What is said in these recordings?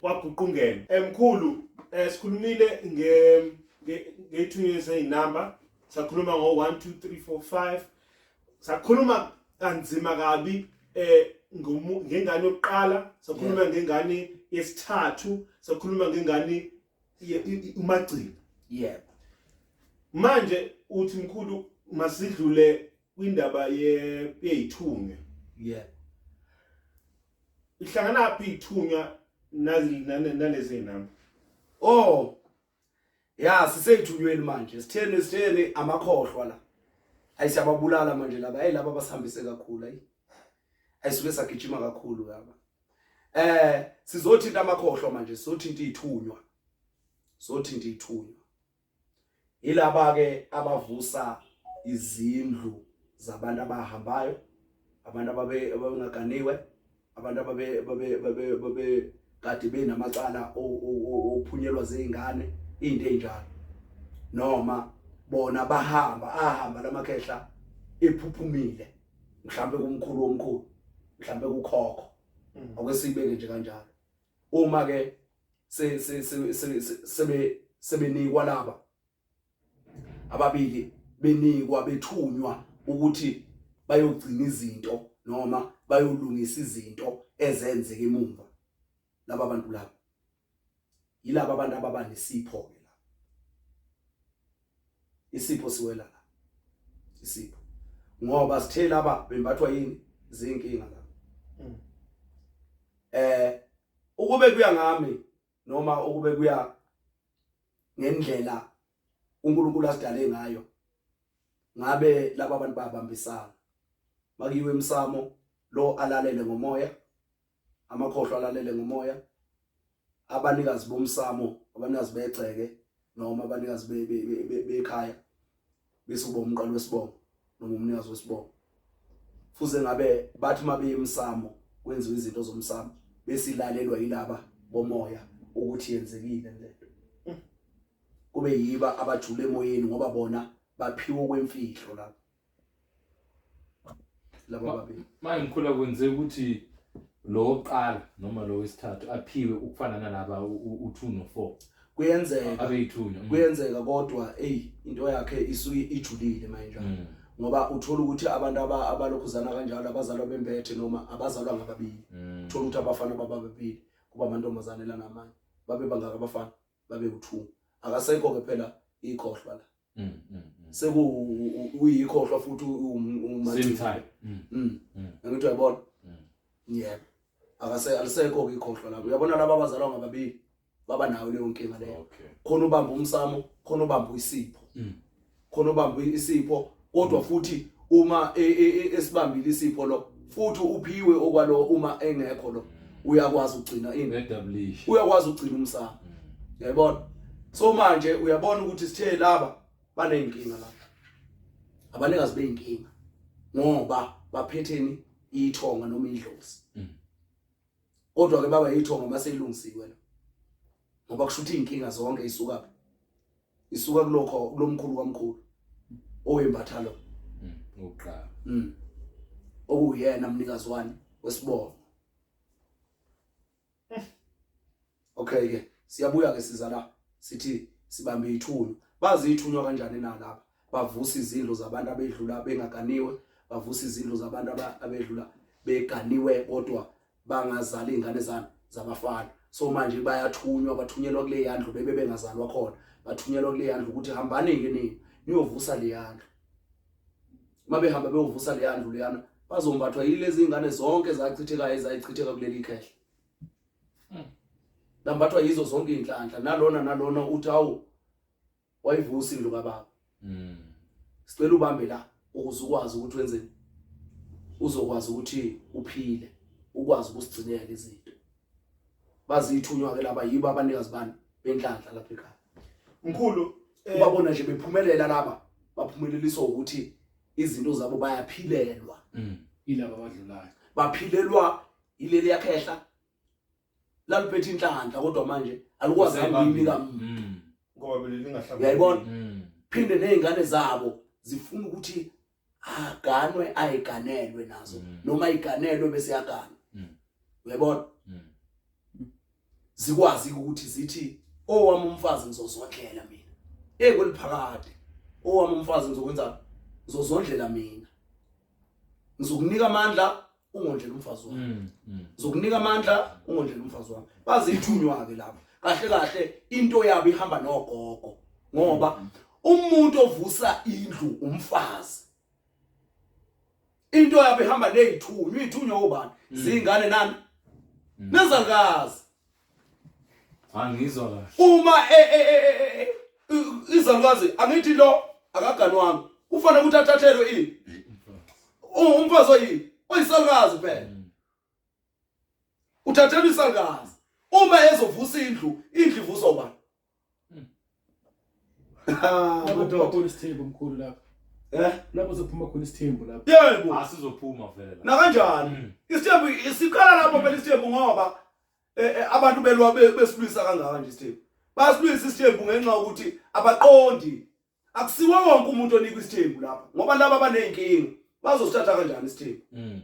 kwaguqungela eh, mkhulu eh, sikhulumile nge ngethunywe zezinamba sakhuluma ngo 1 2 3 4 5 sakhuluma kanzima kabi eh ngengane yokuqala sakhuluma ngengane yesithathu sakhuluma ngengane umagcina yebo manje uthi mkhulu masidlule kwindaba ye yeyithunywe yebo ihlanganaphi ithunywa nalezi namba oh ya siseyithunyweni manje sitheni sitheni amakhohlwa la ayi siyababulala manje laba hey laba basihambise kakhulu ayi ayisuke sagijima kakhulu laba eh sizothinta amakhohlwa manje sizothinta ithunywa sizothinta ithunywa Ilaba ke abavusa izindlu zabantu abahambayo, abantu ababe abengaganiwe, abantu ababe babe babe babe kade benamacala ophunyelwa zeingane into enjalo. Noma bona bahamba ahamba lamakhehla ephuphumile mhlambe kumkhulu omkhulu mhlambe kukhokho mm. akwesibeke nje kanjalo uma ke se se se sebe sebenikwa laba ababili benikwa bethunywa ukuthi bayogcina izinto noma bayolungisa izinto ezenzeke emumva laba bantu laba yilabo abantu ababanesipho ke isipho siwela la isipho ngoba sithe laba bembathwa yini zinkinga la mm. eh ukube kuya ngami noma ukube kuya ngendlela uNkulunkulu asidale ngayo ngabe laba bantu babambisana makiwe emsamo lo alalele ngomoya amakhohlwa alalele ngomoya abanikazi bomsamo abanikazi begceke noma abanikazi bekhaya bese uba umqalo wesibongo noma umnikazi wesibongo fuze ngabe bathi uma beyemsamo kwenziwa izinto zomsamo bese ilalelwa yilaba bomoya ukuthi yenzekile lento kube yiba abajule emoyeni ngoba bona baphiwa kwemfihlo lapho laba babili manje ngikhula kwenzeka ukuthi lo oqala noma lo wesithathu aphiwe ukufana nalaba u2 no4 kuyenzeka abeyithunya mm. kuyenzeka kodwa hey into yakhe isuke ijulile manje mm. ngoba uthola ukuthi abantu abalokhuzana kanjalo abazalwa bembethe noma abazalwa ngababili mm. uthola ukuthi abafana bababili kuba amantombazane la namanye babe bangaka abafana babe u2 akasekho ke phela ikhohlwa la mm, mm, mm. sekuyikhohlwa futhi umasimthayi angithi uyabona yebo alisekho-ke ikhohlwa lapho uyabona laba abazalwa ngababili baba nayo leyo nkinga leyo khona ubamba umsamo khona ubamba isipho khona ubamba isipho kodwa futhi uma e, e, e, esibambile isipho lo futhi uphiwe okwalowo uma engekho lo uyakwazi ukugcina ini establish uyakwazi ukugcina umsamo mm. yayibona so manje uyabona ukuthi sithe laba baneyinkinga la abanikazi beyinkinga ngoba baphetheni ithonga noma indlozi mm. kodwa ke baba ithonga maselungisiwe la ngoba kusho ukuthi inkinga zonke isuka phi isuka kulokho kulomkhulu kwamkhulu owembatha lo mm, ngokuqala mm okuyena mnikazi wani wesibongo okay ke siyabuya ke siza la sithi sibambe ithunywa bazi ithunywa kanjani na lapha bavusa izindlu zabantu abedlula bengaganiwe bavusa izindlu zabantu abedlula beganiwe kodwa bangazali ingane zami zabafana so manje bayathunywa bathunyelwa kule yandlu bebe bengazalwa khona bathunyelwa kule yandlu ukuthi hambani ke nini niyovusa le yandlu uma behamba beyovusa le yandlu leyana bazombathwa yilezi ingane zonke zachithekayo ezayichitheka kuleli khehla lambathwa yizo zonke inhlanhla nalona nalona uthi awu wayivusa indlu kababa mm sicela ubambe la ukuze ukwazi ukuthi wenzeni uzokwazi ukuthi uphile ukwazi ukusigcinela izinto bazithunywa ke laba yibo abanikazi bani benhlanhla lapha ekhaya mkhulu eh, ubabona nje bephumelela laba baphumeleliswa ukuthi izinto zabo bayaphilelwa mm. ilaba abadlulayo baphilelwa ileli yakhehla laliphethe inhlanhla kodwa manje alikwazi ukuyinika mm. ngoba bele lingahlangani uyayibona mm. phinde nezingane zabo zifuna ukuthi aganwe ayiganelwe nazo mm. noma iganelwe bese yagana uyayibona zikwazi ukuthi zithi owami oh, umfazi ngizozondlela mina hey kweliphakade owami oh, umfazi ngizokwenza ngizozondlela mina ngizokunika amandla ungondlela umfazi wami mm, mm. zokunika amandla ungondlela umfazi wami bazithunywa ke lapho kahle kahle into yabo ihamba nogogo ngoba mm, umuntu ovusa indlu umfazi into yabo ihamba nezithunywa izithunywa obani zingane nani nezalikazi Angizwa kahle. Uma e, e, e, izalukwazi angithi lo akaganwanga kufanele ukuthi athathelwe ini? Umfazi oyini? Oyisalukazi phela. Mm. Uthathelwa isalukazi. Uma ezovusa indlu, indlu ivuswa ubani? Mm. Ah, khona isithembu mkhulu lapho. Eh? Lapho sophuma khona isithembu lapho. Yebo. Asizophuma ah, vele. Na kanjani? Mm. Isithembu isikhala lapho phela isithembu ngoba eh, eh, abantu belwa besilwisa kangaka nje isithembu. Basilwisa isithembu ngenxa ukuthi abaqondi akusiwo wonke umuntu onikwa isithembu lapha ngoba laba abaney'nkinga bazosithatha kanjani isithembu mm.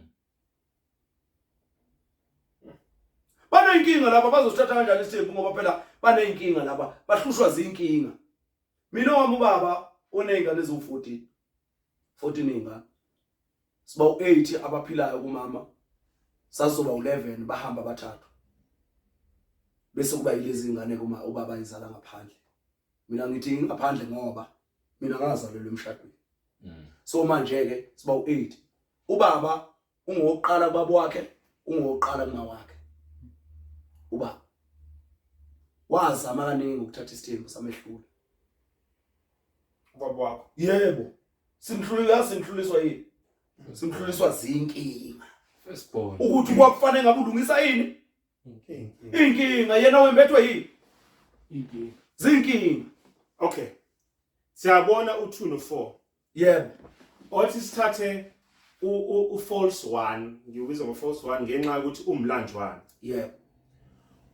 baney'nkinga laba bazosithatha kanjani isithembu ngoba phela baney'nkinga laba bahlushwa zinkinga mina wami ubaba oney'ngane eziwu-fourteen fourteen iy'ngane siba u-eight abaphilayo kumama sazoba u-eleven bahamba abathathu bese kuba yilezi ngane kuma ubaba izala ngaphandle mina ngithi ngingaphandle ngoba mina ngazalelwa emshadweni mm. so manje ke siba u8 ubaba ungoqala baba wakhe ungoqala kuma wakhe uba wazama kaningi ukuthatha isithembu samehlula ubaba wakho yebo simhlulula simhluliswa yini simhluliswa zinkinga ukuthi kwakufanele ngabe ulungisa yini inkinga yena wembethwe yini inkinga zinkinga okay siyabona u2 no4 yebo othi sithathe u false 1 ngiwubiza ngo false 1 ngenxa ukuthi umlanjwana yebo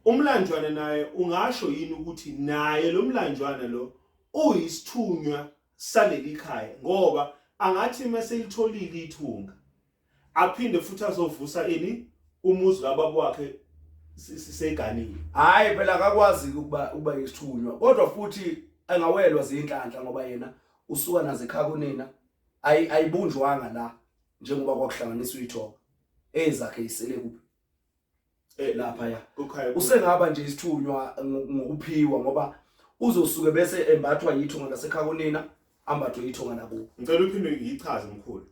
umlanjwana naye ungasho yini ukuthi naye lo mlanjwana lo uyisithunywa saleli khaya ngoba angathi mase ilitholile ithunga aphinde futhi azovusa ini umuzi kababa wakhe siseganile hayi phela akakwazi ukuba uba yisithunywa kodwa futhi angawelwa zinhlanhla ngoba yena usuka nazo ekhaya kunina ayibunjwanga la njengoba kwakuhlanganiswa ithoba ezakhe isele kuphi eh lapha ya usengaba nje isithunywa ngokuphiwa ngoba uzosuke bese embathwa yithunga lasekhaya kunina ambathwe yithunga nakubo ngicela uphinde ngiyichaze mkhulu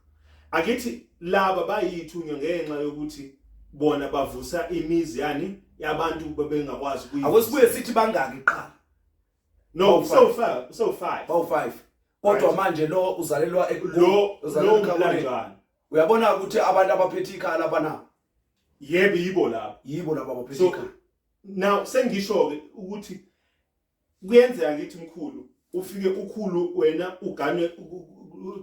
akithi laba bayithunywa ngenxa yokuthi bona bavusa imizi yani yabantu bebengakwazi kuyi awesibuye sithi bangaki qala no so far so five oh five kodwa manje lo uzalelwa lo uzalelwa kanjani uyabona ukuthi abantu abaphethe ikhala bana yebo yibo labo yibo labo abaphethe so ikhaya now sengisho ke ukuthi kuyenzeka ngithi mkhulu ufike ukhulu wena uganwe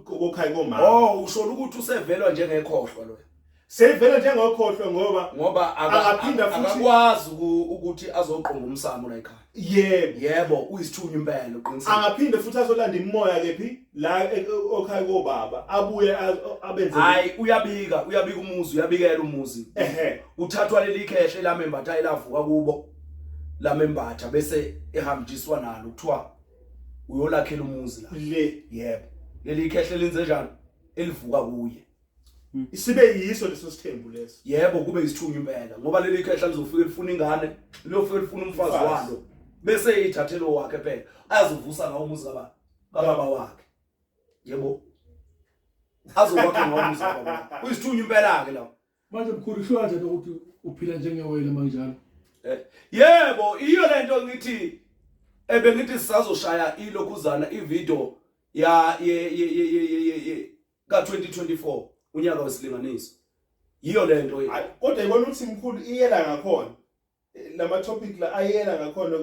kokhayi komama oh usho ukuthi usevelwa njengekhohlwa lo sevela njengokhohlwa ngoba ngoba Akaphinda futhi- akakwazi uku- ukuthi azoqonga umsamo la ekhaya yebo yebo uyisithunywa impela uqinisile angaphinde futhi azolanda imimoya kephi la e- e- okhaya kobaba abuye a- abenze hayi uyabika uyabika umuzi uyabikela umuzi ehe uthathwa leli khehla elamembatha elavuka kubo lamembatha bese ehambiswa nalo kuthiwa uyolakhela umuzi la le yebo leli khehla lenze njani elivuka kuye Hmm. Isibe yiso leso sithembu leso. Yebo kube isithunywa impela ngoba leli khehla lizofika lifuna ingane, liyofika lifuna umfazi walo. Bese ithathelo wakhe phela azovusa ngawo umuzi kababa kababa wakhe. Yebo. Azokwakha ngawo umuzi kababa wakhe. Uyisithunywa impela ke lawo. Manje mkhulu sho kanjani ukuthi uphila njengewele manjalo? Eh, yebo iyo lento ngithi ebengithi sisazoshaya ilokhuzana ivideo ya ye ye ye ye ka-2024 unyaka wesilinganiso yiyo le nto kodwa ibona ukuthi mkhulu iyela ngakhona lama topic la ayela ngakhona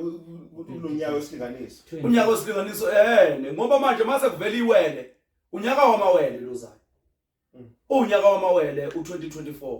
kulonyaka wesilinganiso unyaka wesilinganiso ehene ngoba manje mase kuvela iwele unyaka wamawele lozayo mm. unyaka wamawele u2024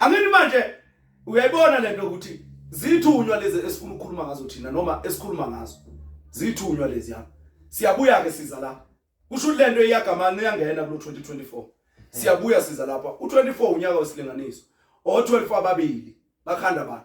angini manje uyayibona lento ukuthi zithunywa lezi esifuna ukukhuluma ngazo thina noma esikhuluma ngazo zithunywa lezi yami siyabuya ke siza la kusho lento iyagamana uyangena kulo 2024 siyabuya siza lapha u24 unyaka wesilinganiso o12 ababili bakhanda bani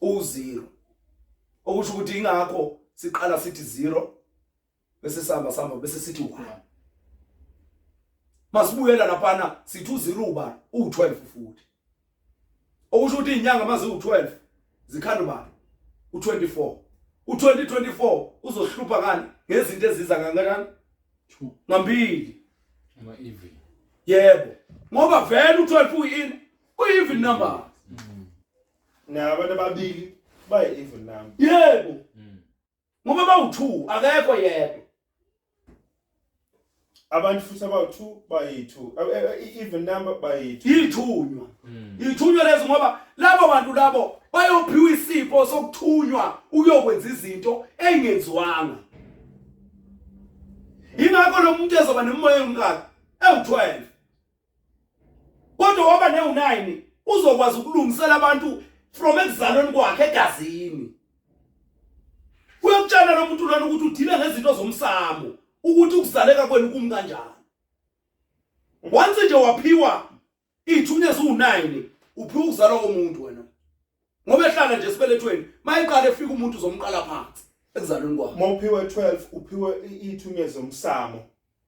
uwuzero okusho ukuthi ingakho siqala sithi zero bese sihamba sihamba bese sithi one masibuyela laphana sithi uzero ubani u12 futhi okusho ukuthi inyanga mazi u12 zikhanda ubani u24 u2024 uzohlupha ngani ngezinto eziza kangakanani ngambili ama even yebo ngoba vele u12 uyini uyiven number na abantu ababili bayi evil number yebo mm. ngoba bawu 2 akekho yedwa abantu futhi abawu 2 bayi 2 eh, eh, even number bayi 2 ithunywa mm. ithunywa lezo ngoba labo bantu labo bayophiwa isipho sokuthunywa ukuyokwenza izinto engenziwanga ingakho lo muntu ezoba nemoya engaka ewu12 kodwa waba newu-9 uzokwazi ukulungisela abantu from ekuzalweni kwakhe egazini uyakutshela lo muntu lona ukuthi udile ngezinto zomsamo ukuthi ukuzaleka kwenu kumi kanjani once nje waphiwa ithunya ziwu-9 uphiwa ukuzalwa komuntu wena ngoba ehlala nje esibelethweni mayiqala efika umuntu uzomqala phansi ekuzalweni kwakhe mawuphiwe 12 uphiwe ithunya zomsamo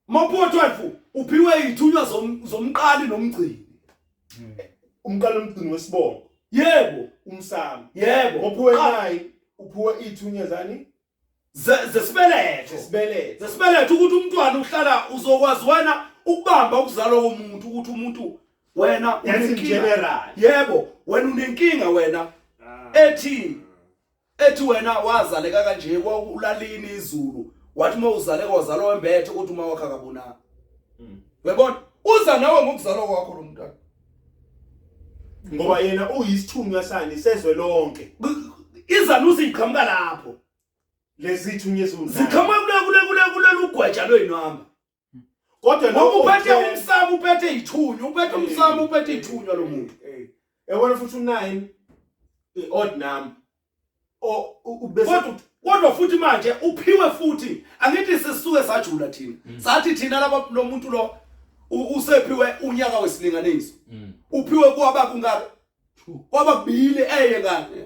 Mapho 12 uphiwe ithunywa zomqali nomgcini. Hmm. Umqali umgcini wesibongo. Yebo, umsamo. Yebo, uphiwe nayi uphiwe ithunywa zani? Zesibeletho. Zesibeletho. Zesibeletho ukuthi umntwana uhlala uzokwazi wena ukubamba ukuzalwa komuntu ukuthi umuntu wena unenkinga. Yebo, wena unenkinga wena. Ah. Ethi Ethi wena wazaleka kanje kwaulalini izulu wathi uma uzaleka wazalwa wembethe ukuthi uma wakhe akabonanga. Mm. Uyabona? Uza nawe ngokuzalwa kwakho lo mntwana. Ngoba yena uyisithunywa sani sezwe lonke. Izanusi iqhamuka lapho. Lezithunywa ezulu. Ziqhamuka kule kule kule kulelugwaja lwenu hamba. kodwa noma uphethe umsamo uphethe izithunywa uphethe umsamo uphethe izithunywa lo muntu yabona futhi u9 i-odd number o ubese kodwa futhi manje uphiwe futhi angithi sisuke sajula thina mm. sathi thina laba lo muntu lo usephiwe unyaka wesilinganiso mm. uphiwe kwaba kungaka kwababili eye kanye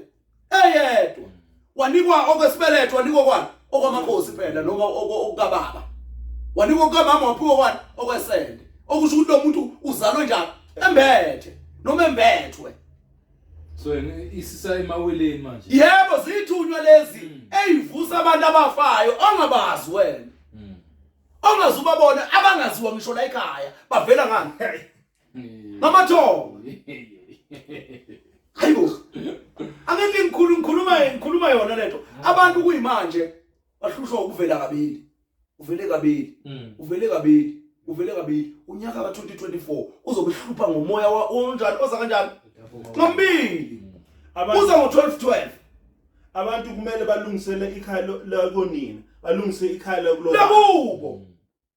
eyedwa wanikwa okwesibeletho wanikwa kwani okwamakhosi phela noma okukababa wanikwa kukamama waphiwa kwani okwesende okusho ukuthi lo muntu uzalwe njalo embethe noma embethwe so isisa emaweleni manje yebo zithunywa lezi hmm. eyivusa abantu abafayo ongabazi wena hmm. ongazubabona abangaziwa ngisho la ekhaya bavela ngani ngamathongo hayibo angeke ngikhulu ngikhuluma ngikhuluma yona lento abantu kuyimanje bahlushwa ukuvela kabili uvele kabili hmm. uvele kabili uvele kabili unyaka ka 2024 uzokuhlupha ngomoya onjani oza kanjani ngambili hmm. uza ngo 12 12 abantu kumele balungisele ikhaya lakonina balungise ikhaya lakulo lakubo hmm.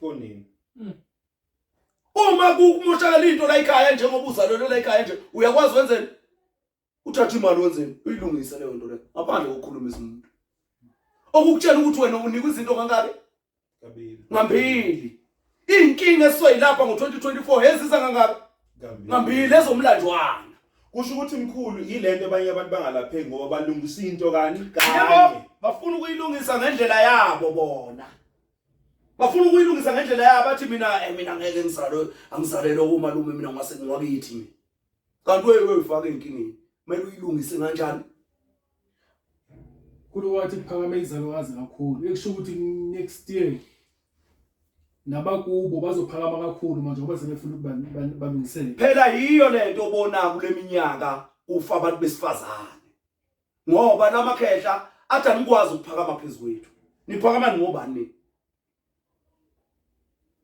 konini hmm. uma kumoshakala into la ikhaya njengoba uzalelwe la ikhaya nje uyakwazi wenzeni uthatha imali wenzeni uyilungise leyo nto leyo ngaphandle kokukhulumisa umuntu okukutshela ukuthi wena unikwa izinto kangaki ngambili iy'nkinga esisoyilapha ngo-2024 heziza kangaki ngambili ezomlanjwana kusho ukuthi mkhulu yilento abanye abantu bangalapheki ngoba balungisa into kani kanye bafuna ukuyilungisa ngendlela yabo bona bafuna ukuyilungisa ngendlela yabo bathi mina eh mina ngeke ngizalwe angizalelwe umalume mina ngase ngiwakithi mina kanti wewe wefaka inkingeni kumele uyilungise kanjani kulo wathi kuphakame izalwazi kakhulu ekusho ukuthi next year nabakubo bazophakama kakhulu manje ngoba sebefuna ukuthi balungisele phela yiyo lento obona kuleminyaka ufa abantu besifazane ngoba namakhehla athi anikwazi ukuphakama phezu kwethu niphakama ngobani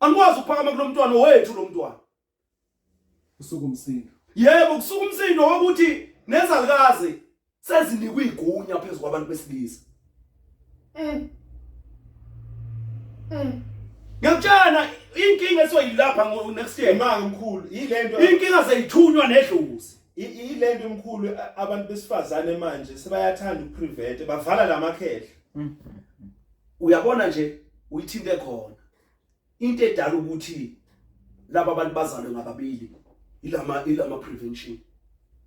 anikwazi ukuphakama kulo mntwana wethu lo mntwana usuku umsindo yebo kusuka umsindo wokuthi nezalikazi sezinikwa igunya phezu kwabantu besilisa mm. mm. ngiyakutshana inkinga esoyilapha ngo next year manga mkhulu yilento inkinga zeyithunywa nedlozi ile nto mkhulu abantu besifazane manje sebayathanda ukuprevent bavala lamakhehla mm. uyabona nje uyithinte khona into edala ukuthi laba bantu bazalwe ngababili ilama ilama prevention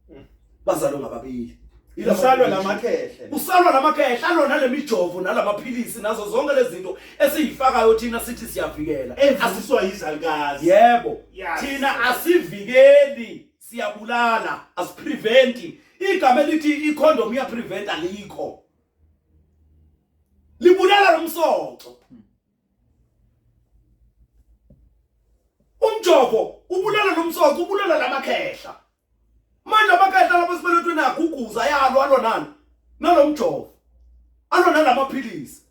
mm. bazalwe ngababili Usalwa lamakhehle. Usalwa lamakhehle alona lemijovo nalamaphilisi nazo zonke lezi zinto esizifakayo thina sithi siyavikela. Asiswa yizalikazi. Yebo. Thina asivikeli. siyabulala asipreventi igama elithi icondom iyaprevent alikho libulala lomsoco umjovo ubulala lomsoco ubulala lamakhehla manje amakhehla lapho sibelethwe nakho uguza yalo alonani nalomjovo alona lamaphilisi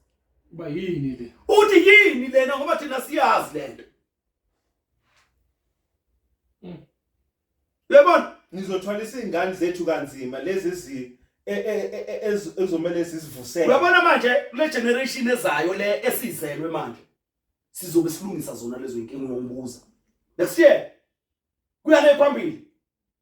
uba yini le uthi yini lena ngoba thina siyazi lento Mm. Yabona ngizothwalisa izingane zethu kanzima lezi zi e, e, e, ezomele sizivusele. Uyabona manje kule generation ezayo le esizelwe manje sizobe silungisa zona lezo inkinga ngokubuza. Next year kuyale phambili.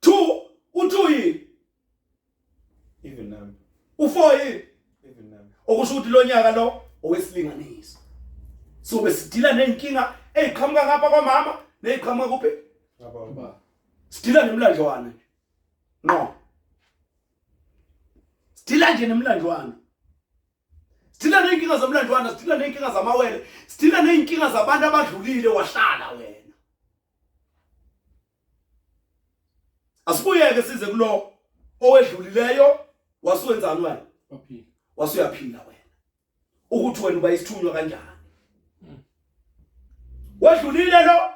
Two, u-two yini? Even number. U-four yini? Even number. Okusho ukuthi lo nyaka lo owesilinganiso. So besidila nenkinga eziqhamuka ngapha kwamama neziqhamuka kuphi? Ngababa. Sidila nemlandlwana nje. No. Sidila nje nemlandlwana. sidila ney'nkinga zomlandwana sidila ney'nkinga zamawele sidila ney'nkinga zabantu abadlulile wahlala wena asibuyeke size kulo owedlulileyo wasuwenzani wena wasuyaphila wena ukuthi wena uba isithunywa kanjani hmm. wedlulile lo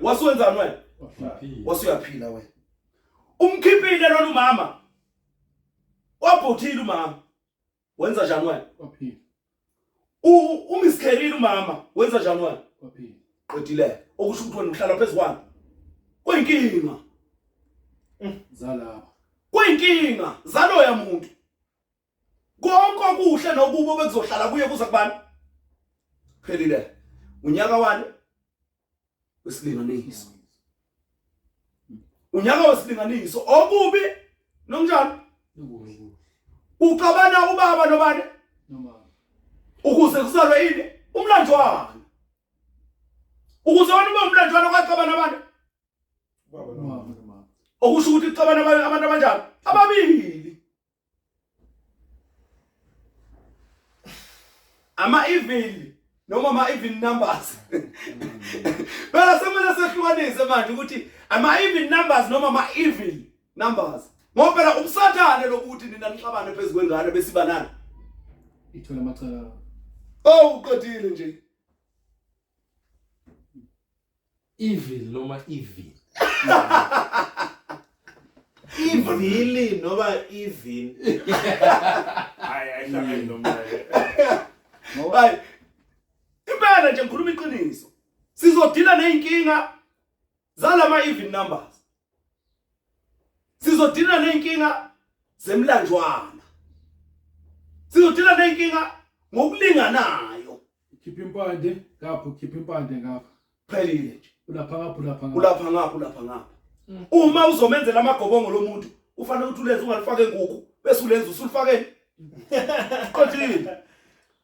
wasuwenzani wena wasuyaphila wena umkhiphile lona umama wabhuthile umama wenza njani wena waphila umiskerile umama wenza njani wena waphila qedile okusho ukuthi wena uhlala phezu kwami kuyinkinga mm, zalaba kuyinkinga zaloya muntu konke okuhle nokubo bekuzohlala kuye kuza kubani phelile unyaka wani wesilinganiso unyaka wesilinganiso okubi nomnjalo uxabana ubaba nobani ukuze kuzalwe yini umlanjwana ukuze wena ube umlanjwana kwaxabana abantu okusho ukuthi kuxabana abantu abanjani ababili ama evil noma ama even numbers phela semele sehlukanise manje ukuthi ama even numbers noma ama evil numbers ngoba phela umsathane lokuthi nina nixabane phezulu kwengane besibanana ithola amacala oh uqedile nje Evil noma evil. Ivili noma ivin. Hayi ayihlangani noma. Hayi. Impela nje ngikhuluma iqiniso. Sizodila nezinkinga zalama even numbers sizodina nenkinga zemlanjwana sizodina nenkinga ngokulinganayo khipha impande ngapho khipha impande ngapha phelile nje ulapha ngapha ulapha ngapha ulapha ngapha ulapha ngapha mm. uma uzomenzela amagobongo lomuntu ufanele ukuthi ulenze ungalifake nguku bese ulenza usulifakeni qothile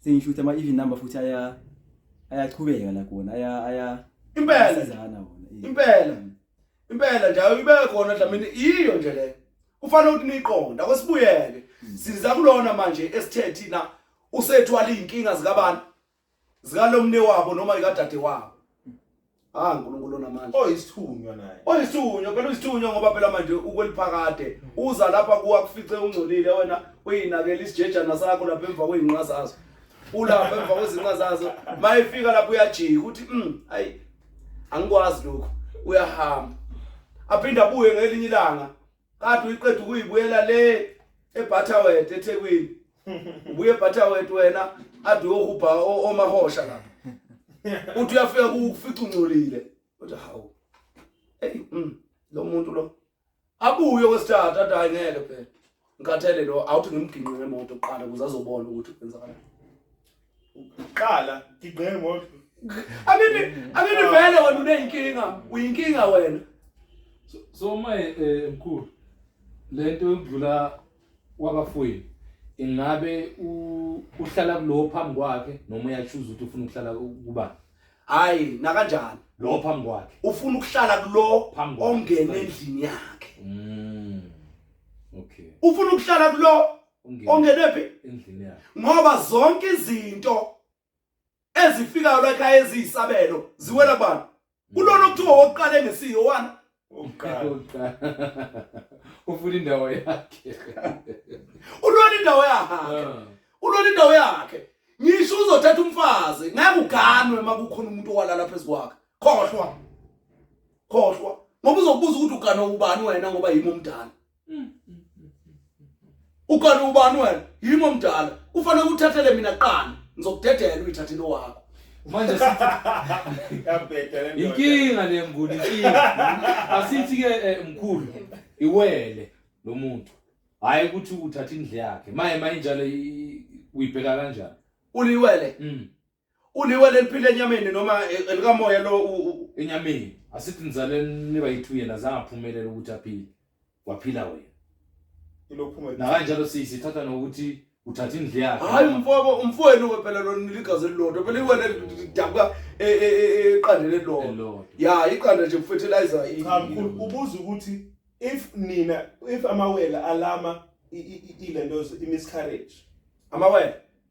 sengisho ukuthi ama-even number futhi aya ayachubeka la khona aya aya impela asizana wona eh. impela impela njalo ibe khona dlamini yiyo nje le kufanele ukuthi niqonda kwesibuyeke hmm. siza kulona manje esithe thina usethwala izinkinga zikabantu zikalomne wabo noma ikadade wabo Ah uNkulunkulu onamandla. Oyisithunywa naye. Oyisithunywa phela uyisithunywa ngoba phela manje ukweliphakade. Uza lapha kuwa kufice ungcolile wena uyinakela isijejana sakho lapha emva kweinqa zazo. Ulapha emva kwezinqa zazo. Mayifika lapha uyajika uthi mm ayi angikwazi lokho uyahamba. Aphinda abuye ngelinye ilanga kade uyiqeda ukuyibuyela le ebutterwet ethekwini ubuye ebutterwet wena ade uyohubha omahosha lapha uthi uyafika kufica ungcolile uthi hawu eyi mm, lo muntu lo abuye kwesithathu ade hayi ngeke phela ngikhathele lo awuthi ngimginqe ngemoto kuqala ukuze azobona ukuthi kwenzakalani Qala ngigqe ngoba Anini anini vele wena unenkinga uyinkinga wena. So my eh mkhulu lento yokudlula kwabafowini ingabe uhlala kulowo phambi kwakhe noma uyachuza ukuthi ufuna ukuhlala kuba hayi nakanjani lo phambi kwakhe ufuna ukuhlala kulo ongena endlini yakhe mm. okay ufuna ukuhlala kulo ongenwe phi endlini yakhe ngoba zonke izinto ezifikayo la ekhaya eziyisabelo ziwela kubani kulona okuthiwa wokuqala engesiyo wani oqala ufuna indawo yakhe ulona indawo yakhe ah. ulona indawo yakhe ngisho uzothatha umfazi ngeke uganwe makukhona umuntu owalala phezukwakhe khohlwa khohlwa ngoba uzokubuza ukuthi uganwa ubani wena ngoba yimi omdala ukhona ubani wena yimi omdala kufanele ukuthathele mina qala ngizokudedela uyithathe into wakho manje inkinga le mnguni inkinga asithi ke eh, mkhulu iwele lo muntu hayi ukuthi uthatha indle yakhe maye mayinjalo uyibheka kanjani uliwele mm. uliwe leliphila enyameni noma e, elikamoya lo enyameni asithi nizaleni niba yithu yena zange aphumelela ukuthi aphile waphila wena ilophuma nakanjalo siyithatha nokuthi uthatha indle yakhe hayi umfobo umfowenu phela lo niligazi elilodwa phela iwena lidabuka e, e, e, eqandeni elilodwa ya iqanda nje kufertilizer cha mkhulu ubuza ukuthi if nina if amawele alama ilento imiscarriage amawele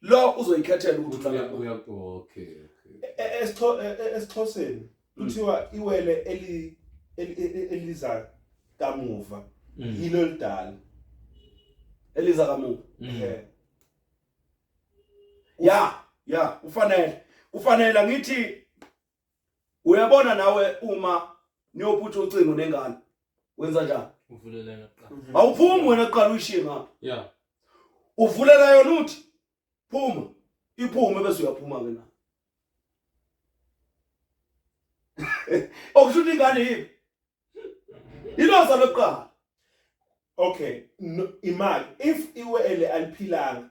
lo uzoyikhethela ukuthi uhlala kuphi uyakho okay esixhoseni kuthiwa iwele eli eliza kamuva mm. yilo lidala eliza kamuva mm. eh ya ya ufanele ufanele ngithi uyabona nawe uma niyophutha ucingo nengane wenza njani uvulelana kuqala mhm. awuphumi wena kuqala uyishiye ngapha yeah uvulela yona uthi phuma iphume bese uyaphuma ke na okusho ukuthi ingane yipi iloza lokuqala okay no, imali if iwele aliphilanga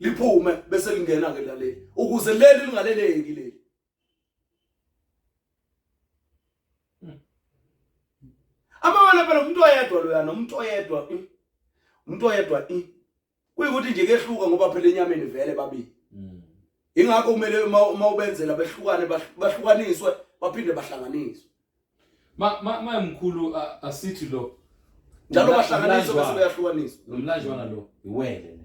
liphume bese lingena ke laleli ukuze leli lingaleleki leli amawala phela umuntu oyedwa loya nomuntu oyedwa hmm? umuntu oyedwa hmm? kuyikuthi nje kehluka ngoba phela enyameni vele babili hmm. ingakho kumele uma ubenzela behlukane bahlukaniswe baphinde bahlanganiswe ma ma ma mkhulu asithi lo njalo bahlanganiswa bese beyahlukaniswa nomlanjwana lo iwele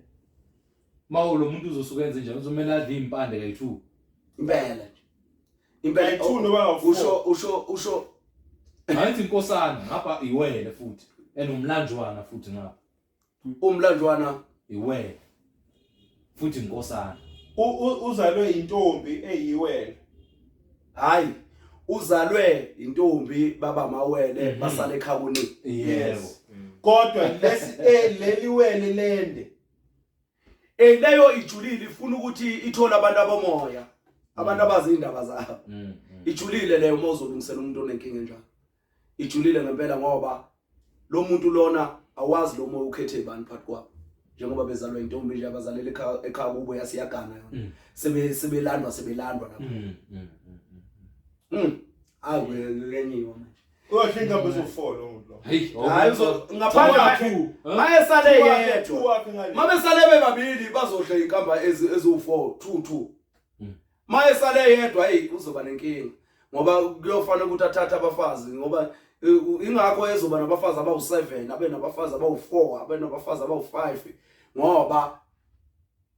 mawo lo muntu uzosuka enze njani uzomela adle impande kayi2 impela impela kayi2 oh, noba usho usho usho angithi inkosana ngapha iwele futhi enomlanjwana futhi ngapha umlanjwana iwena futhi inkosana uzalwe intombi eyiwena hayi uzalwe intombi baba mawele mhm. basale ekhawuni yebo kodwa lesi eh, leli wele lende eleyo ijulile ifuna ukuthi ithole abantu abomoya abantu mm. abazi indaba zabo mm, mm. ijulile leyo uma uzolungisela umuntu onenkinga enjalo ijulile ngempela ngoba lo muntu lona awazi lo moya ukhethe ibani phakathi kwabo njengoba bezalwa intombi nje abazalela ekhaya kubo yasiyagana yona mm. sebe sebelandwa sebelandwa lapho mm, mm, mm hayi ngenyiwa manje Kodwa ingabe uzofola umuntu. Hayi ngaphandle kwakhe. Maye sale yedwa. Mabe sale bebabili bazodla inkamba eziwu4 2 2. Maye sale yedwa hey uzoba nenkinga ngoba kuyofanele ukuthi athathe abafazi ngoba ingakho ezoba nabafazi abawu7 abe nabafazi abawu4 abe nabafazi abawu5 ngoba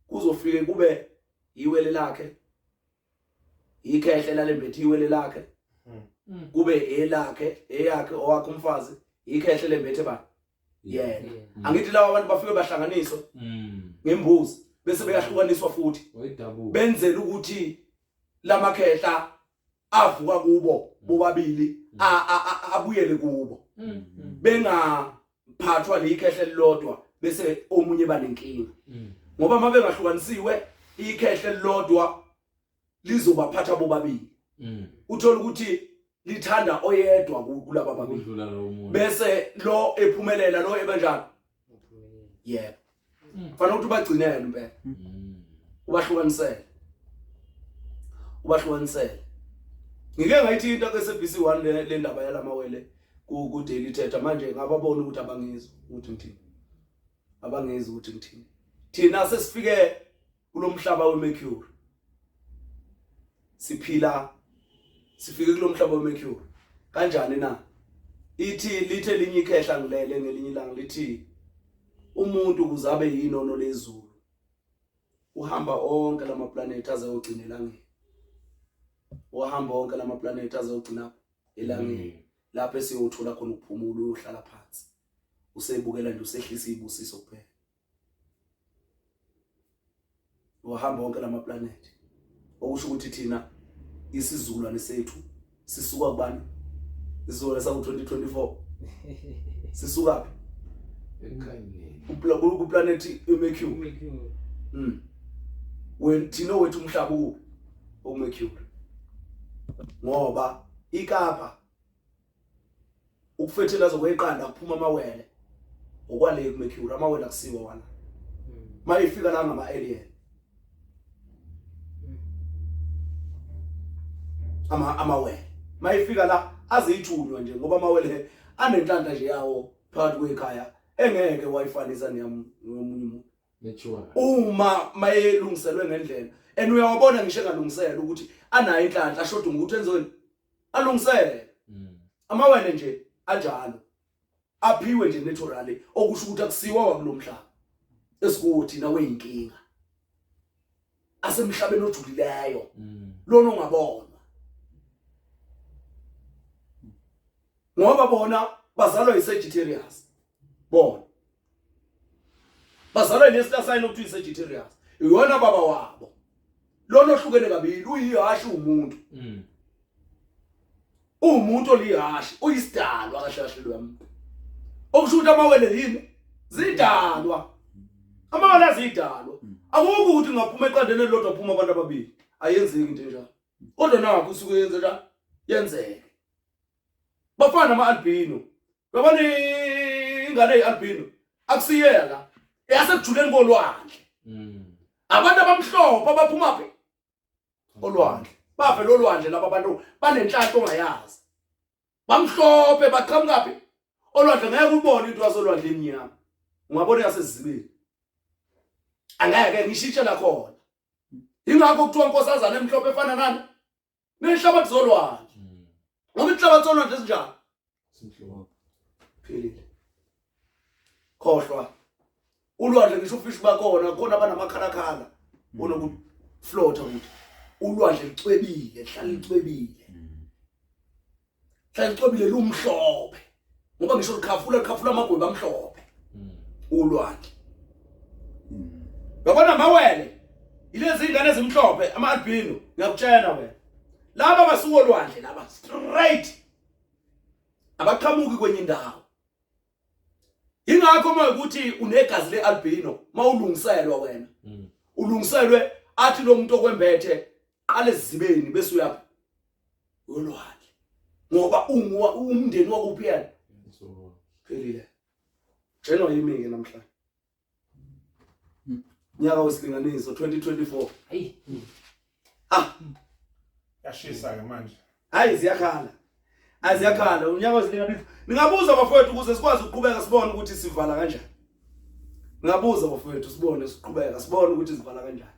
kuzofike kube yiwele lakhe ikhehle lalembethe iwele lakhe hmm. kube elakhe eyakhe owakhe umfazi ikhehle lembethe bani yena angithi lawa abantu bafike bahlanganiswe mm. ngembuzi bese beyahlukaniswa futhi benzela ukuthi lamakhehla avuka kubo mm. bobabili mm. abuyele kubo bengaphathwa likhehle lilodwa bese omunye banenkinga ngoba mabengahlukanisiwe ikhehle lilodwa lizobaphatha bobabili mm. uthola ukuthi lithanda oyedwa kulaba babili bese lo ephumelela lo ebanjani yebo mm. fanele ukuthi ubagcinele impela mm. ubahlukanisele ubahlukanisele ngike ngayithi into ke SBC 1 le ndaba yalamawele ku ku daily thetha manje ngababona ukuthi abangizwa ukuthi ngithini abangizwa ukuthi ngithini thina sesifike kulomhlaba wemercury siphila sifike kulomhlaba wemercury kanjani na ithi lithe linye ikhehla ngilele ngelinye ilanga lithi umuntu ukuze abe yinono lezulu uhamba onke lama planet aze ogcina elangeni uhamba onke lama planet aze ogcina elangeni mm. lapho esiyothola khona ukuphumula uyohlala phansi usebukela nje usehlisa ibusiso kuphela wahamba wonke lama planet okusho ukuthi thina isizukulwane sethu sisuka kubani isizukulwane sangu 2024 sisuka phi ekhanyeni ku planet iMercury mm when thina wethu umhlaba u uMercury ngoba ikapa ukufethelaza kweqanda kuphuma amawele okwale kuMercury amawele akusiwa wona maye ifika la ngama alien ama amawele maye ifika la azithunywa nje ngoba amawele anenhlanta nje yawo phakathi kwekhaya engeke wayifanisa neyamunye umuntu uma mayelungiselwe ngendlela and uyawabona ngisho engalungisela ukuthi anayo inhlanhla ashoda ngokuthi enzweni alungisele mm. amawele nje anjalo aphiwe nje naturally okusho ukuthi akusiwa wakulomhlaba esikuwo thina weyinkinga asemhlabeni ojulileyo mm. lona ongabonwa ngoba bona bazalwa yiSagittarius bona bazalwa yini esitasayini okuthiwa i-sagittarius iyona baba wabo lona ohlukene kabili uyihashi uwumuntu mm. uwumuntu olihashi uyisidalwa kahle kahle lo yami okusho ukuthi amawele yini zidalwa amawele azidalwa mm. akukho ukuthi ngaphuma eqandeni elilodwa phuma abantu ababili ayenzeki into enjalo kodwa nakho usuke yenze njalo yenzeke bafana ama-albino yabona ingane eyi-albino akusiyela eyasekujuleni kolwandle mm. abantu abamhlophe abaphumaphi olwandle bavela olwandle laba bantu banenhlanhla ongayazi bamhlophe baqhamukaphi olwandle ngeke ubone into yasolwandle emnyama ungabona yasezibini angeke ngishitshe lakhona ingakho kuthiwa nkosazana emhlophe efana nani nenhlabathi zolwandle mm. ngoba inhlabathi zolwandle ezinjani simhlophe philile khohlwa ulwandle ngisho ufishi bakhona khona abanamakhalakhala mm. onokuflotha ukuthi ulwandle lucwebile lihlala lucwebile hlala licwebile lumhlophe ngoba ngisho likhafula likhafula amagweba amhlophe hmm. ulwandle hmm. yabona mawele ilezi ingane ezimhlophe ama albino ngiyakutshela wena laba basuka olwandle laba straight abaqhamuki kwenye indawo ingakho uma ukuthi unegazi lealbino mawulungiselwa wena hmm. ulungiselwe athi lo muntu okwembethe qala ezibeni bese uyaphi uyolwandle ngoba unguwa umndeni wakuphi yena phelile jeno yimi ke namhlanje nyaka wesilinganiso 2024 hayi ah yashisa ke manje hayi ziyakhala aziyakhala unyaka ozinika bifu ningabuza bafowethu ukuze sikwazi ukuqhubeka sibone ukuthi sivala kanjani ningabuza bafowethu sibone siqhubeka sibone ukuthi sivala kanjani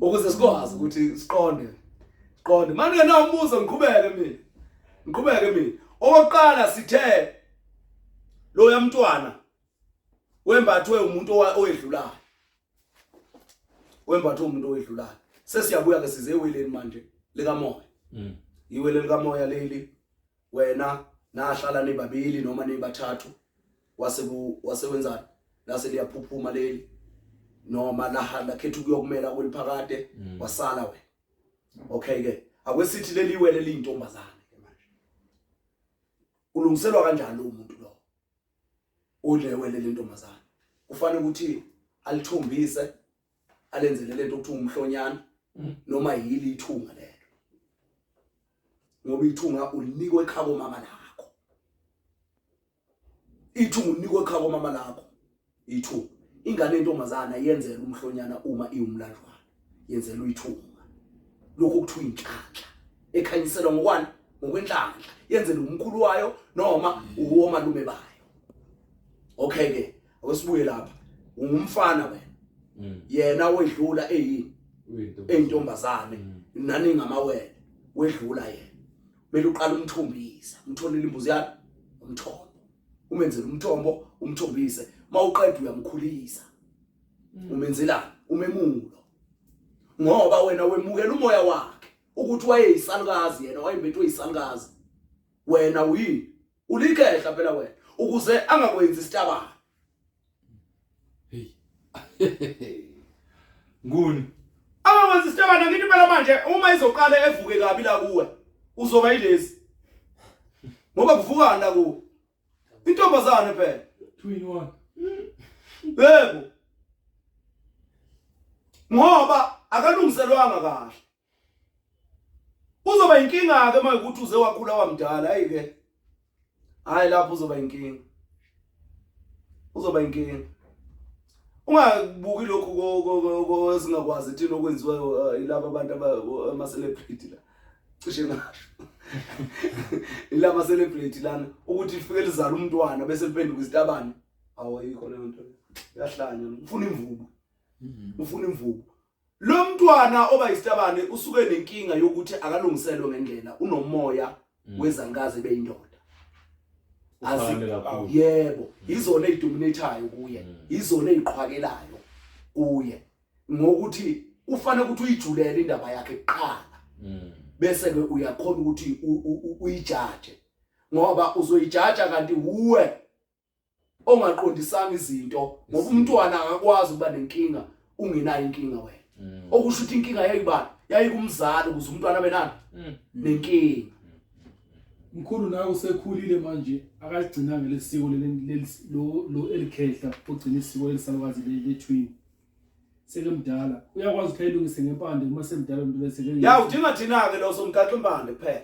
ukuze sikwazi ukuthi siqonde siqonde manje na umbuzo ngiqhubeke mina ngiqhubeke mina okokuqala sithe lo yamntwana wembathwe umuntu owedlulayo wembatha umuntu owedlulayo sesiyabuya ke size eweleni manje likamoya mm. iwele likamoya leli wena nahlala nibabili noma nibathathu wase wasewenzani lase liyaphuphuma leli noma lahamba khetha ukuyokumela kweliphakade mm. wasala wena okay ke akwesithi leli wele lintombazana ke manje ulungiselwa kanjani umuntu ulewele lentombazana kufanele ukuthi alithombise alenzele lento ukuthi umhlonyana mm. noma yili ithunga lelo ngoba ithunga ulinikwe ekhabo mama lakho ithunga unikwe ekhabo mama lakho ithu ingane intombazana yenzela umhlonyana uma iwumlanjwana yenzelwa uyithunga lokho kuthiwa inhlanhla ekhanyiselwa ngokwani ngokwenhlanhla yenzela umkhulu wayo noma uwomalume bayo okay ke awusibuye lapha ungumfana wena mm. yena wedlula eyini eyintombazane mm. nani ngamawele wedlula yena mele uqala umthombisa umtholele imbuzi yakhe umthombo umenzele umthombo umthombise mawuqeda uyamkhulisa mm. umenzelani umemulo ngoba wena wemukela umoya wakhe ukuthi wayeyisalukazi yena wayembethwe yisalukazi wena uyini ulikehla phela wena ukuze angakwenzi isitabana hey nguni angakwenzi isitabana ngithi phela manje uma izoqala evuke kabi la kuwe uzoba yilezi ngoba kuvukana la kuwe intombazane phela two in one yebo ngoba akalungiselwanga kahle uzoba inkinga ke manje ukuthi uze wakhula wamdala hayi ke hayi lapho uzoba inkinga uzoba inkinga ungabuki lokhu ezingakwazi thina okwenziwa eh, ilaba abantu ama-celebrity la cishe ngasho ila ma-celebrity lana ukuthi lifike lizala umntwana bese liphenduka izitabane awayikho leyo nto yahlanya ufuna imvubu mm-hmm. ufuna imvubu Lo mntwana oba isitabane usuke nenkinga yokuthi akalungiselwe ngendlela unomoya mm. wezankazi beyindoda. yebo yizona ezidominathayo kuye mm. yizona eziqhwakelayo kuye ngokuthi ufanele ukuthi uyijulele indaba yakhe kuqala mm. bese ke uyakhona ukuthi uyijaje ngoba uzoyijaja kanti uwe ongaqondisanga izinto ngoba umntwana angakwazi ukuba nenkinga ungenayo inkinga wena mm. okusho ukuthi inkinga yayibani yayikumzali ukuze umntwana abe nani mm. nenkinga mkhulu nawe usekhulile manje akagcinanga lesiko lo elikhehla ogcina isiko elisalukazi lethwini sekumdala uyakwazi ukuthi ayilungise ngempande uma semdala umuntu bese ya udinga thina-ke lo somgaxa impande kuphela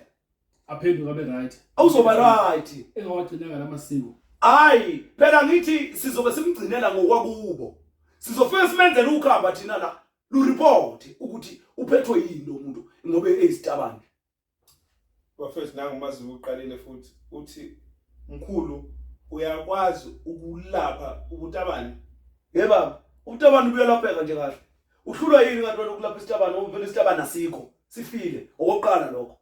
aphenduka be right awuzoba right engawagcinanga lamasiko hayi phela ngithi sizobe simgcinela ngokwakubo sizofika simenzele ukhamba thina la lu report ukuthi uphethwe yini lo muntu ngoba eyisitabane bafethu nangu mazi uqalile futhi uthi mkhulu uyakwazi ukulapha ubutabane ye baba ubutabane ubuyalapheka nje kahle uhlulwa yini kanti wena ukulapha isitabane ngoba phela isitabane asikho sifile okokuqala lokho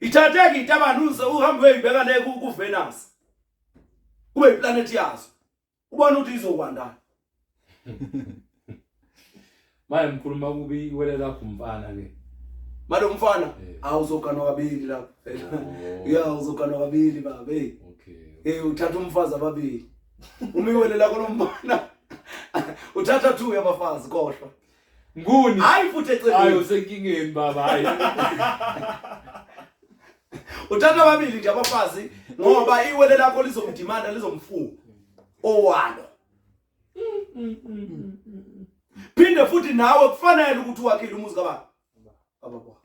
ithatheke intabanuze uhambe uyibeka le ku Venus kube iplanet yazo ubona ukuthi izokwandana maye mkhuluma kubi iwele lakho mfana ke manje umfana eh. awuzoganwa kabili lapho oh. ya uzoganwa kabili baba hey okay hey uthatha umfazi ababili uma iwele lakho lomfana uthatha two yabafazi kohlwa Nguni? Hayi futhi eceleni. Hayi usenkingeni baba hayi. Uthatha ababili nje abafazi ngoba iwele lakho lizomdimanda lizomfuwa. Owalo. Phinde futhi nawe kufanele ukuthi wakhile umuzi kababa. Baba kwakho.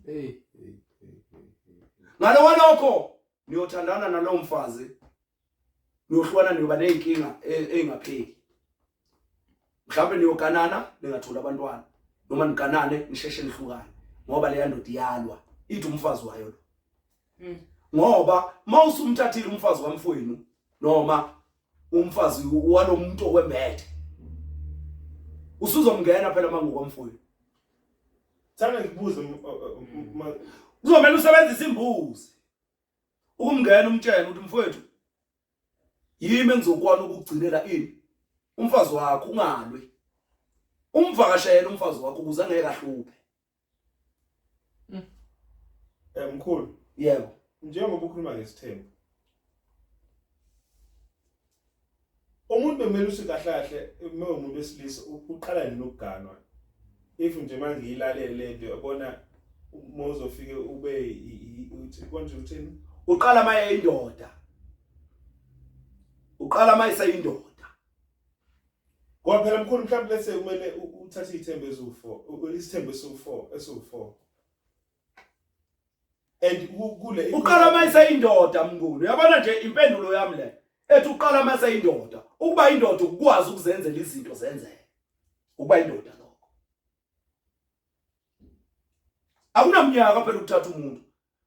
Hey. Ngalo walokho niyothandana nalowo mfazi niyohlukana niyoba ney'nkinga ey'ngapheli e, mhlawumbe niyoganana ningatholi abantwana noma niganane nisheshe nihlukane ngoba leya ndoda iyalwa ithi umfazi wayo lo hmm. ngoba uma usumthathile umfazi kamfowenu noma umfazi walo muntu okwembethe usuzomngena phela uma ngokwamfowenu thana ngikubuze kuzomele usebenzise imbuzi ukumngena umtshele ukuthi mfowethu yimi engizokwana ukugcinela ini umfazi wakho ungalwi umvakashele umfazi wakho ukuze angeke ahluphe mm. eh mkhulu yebo njengoba ukhuluma ngesithembu umuntu bekumele uthi kahle kahle uma umuntu wesilisa uqala nini ukuganwa if nje manje ilalele lento yabona uma uzofike ube uthi konje uthini uqala maye indoda uqala maye sayindoda ngoba phela mkhulu mhlawumbe lese kumele uthathe ithembe eziwu4 isithembe esiwu4 esiwu4 and kule uqala uma iseyindoda mnguni uyabona nje impendulo yami le ethi uqala uma seyindoda ukuba indoda ukwazi ukuzenzela izinto zenzeke ukuba indoda lokho akunamnyaka phela ukuthatha umuntu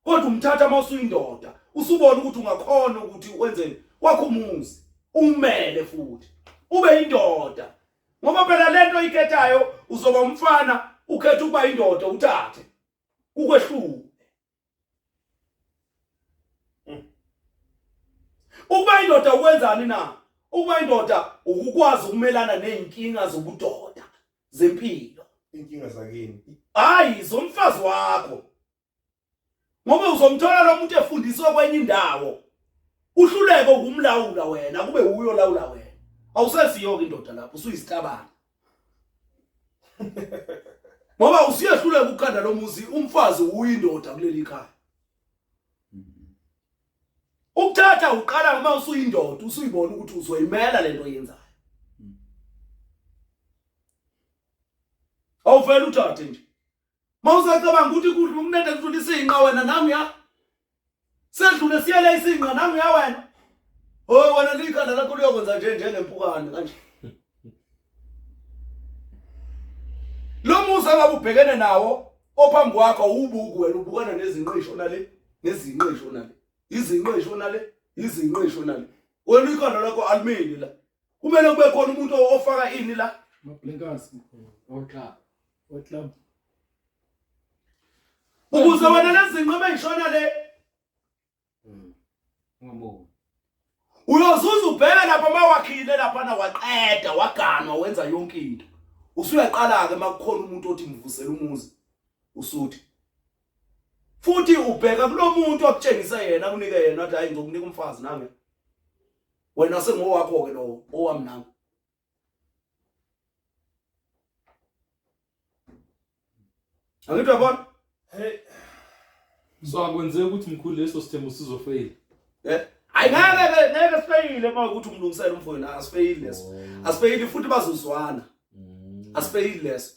kodwa umthatha uma usuyindoda usubona ukuthi ungakhona ukuthi wenzeni wakho umuzi umele futhi ube indoda ngoba phela lento ikhethayo uzoba umfana ukhetha ukuba indoda uthathe ukwehlule hmm. ukuba indoda ukwenzani na ukuba indoda ukukwazi ukumelana nezinkinga zobudoda zempilo inkinga zakini hayi zomfazi wakho ngoba uzomthola lo muntu efundiswe kwenye indawo uhluleke ukumlawula wena kube uyo lawula wena awuseziyoke indoda lapho usuyisitabana ngoba usiyehluleka ukuqanda lo muzi umfazi uyindoda kuleli khaya ukuthatha uqala uma usuyindoda usuyibona ukuthi uzoyimela lento oyenzayo awuvele uthathe nje mawusacabanga ukuthi kudla ukunede kudlula isinqa wena nami ya sedlule siyele isinqa nami ya wena hoy wena likhanda lakho liyokwenza nje njengempukane kanje lo musa ngabe ubhekene nawo ophambi kwakho ubuku wena ubukana nezinqisho nale nezinqisho nale izinqisho nale izinqisho nale wena ikhanda lakho alimini la kumele kube khona umuntu ofaka ini la mablenkazi oxa Waklama. Ukuze wena lezinqobe engishona le. Hmm. Ngombo. Uyozuza ubheke lapha mawakhile lapha na waqeda waganwa wenza yonke into. Usuyaqala ke makukhona umuntu othi ngivusela umuzi. Usuthi. Futhi ubheka kulomuntu okutshengisa yena kunike yena athi hayi ngizokunika umfazi nami. Wena sengowakho ke lo owami nami. Angithi uyabona? Hey. So akwenzeki ukuthi mkhulu leso sithembu sizofeyila. Eh? Ayingeke ngeke sifeyile uma ukuthi umlungisele umfowenu asifeyile leso. Oh. Asifeyile futhi bazozwana. Mm. Asifeyile leso.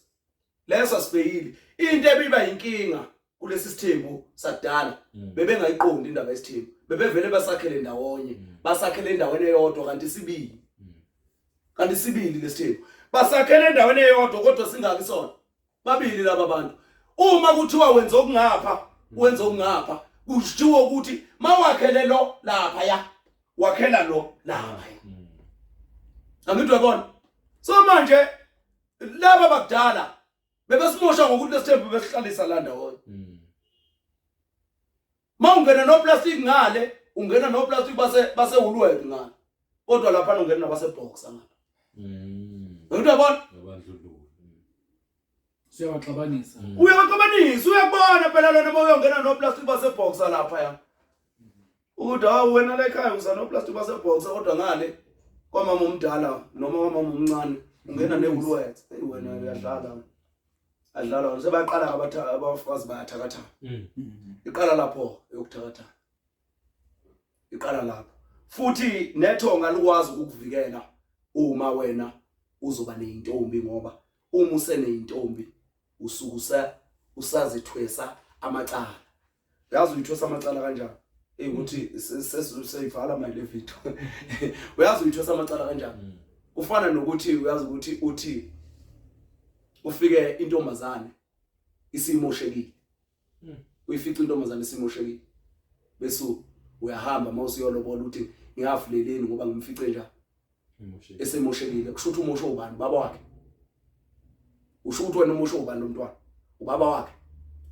leso asibhekile into ebiba inkinga kulesi sithembu sakudala mm. bebengayiqondi indaba yesithembu bebevele basakhele ndawonye mm. basakhele endaweni eyodwa kanti sibili mm. kanti sibili lesithembu basakhele endaweni eyodwa kodwa singaki sona babili laba bantu uma kuthiwa wenza okungapha wenza okungapha kushiwo ukuthi mawakhele lo lapha ya wakhela lo lapha ya angidwa bona so manje laba bakudala bebesimosha ngokuthi lesithembu besihlalisa la ndawonye mm. ma ungena noplastic ngale ungena noplastic base base hulwet ngale kodwa lapha ungena nabase box ngale mm. ngento yabona abandlululo siyabaxabanisa mm. uyabaxabanisa uyabona phela lona uma uyongena noplastic base box lapha ya ukuthi hawu wena la ekhaya usanoplastic basebhoxa kodwa ngale kwamama omdala noma kwamama omncane ungena newulwethe eyi wena uyadlala adlala wena sebaqala abafazi bayathakathana mm. iqala lapho yokuthakathana iqala lapho futhi nethonga likwazi ukukuvikela uma wena uzoba neyintombi ngoba uma useneyintombi usukusa usazithwesa amacala yazi uyithosa amacala kanjani ey ukuthi sesizoyivala my le video uyazi uyithosa amacala kanjani mm. kufana nokuthi uyazi ukuthi uthi ufike intombazane isimoshekile mm. uyifica intombazane isimoshekile bese uyahamba mawusiyolobola uthi ngiyafuleleni ngoba ngimfice njani esemoshelile kusho ukuthi umosho ubani baba wakhe usho ukuthi wena umosho ubani lomntwana ubaba wakhe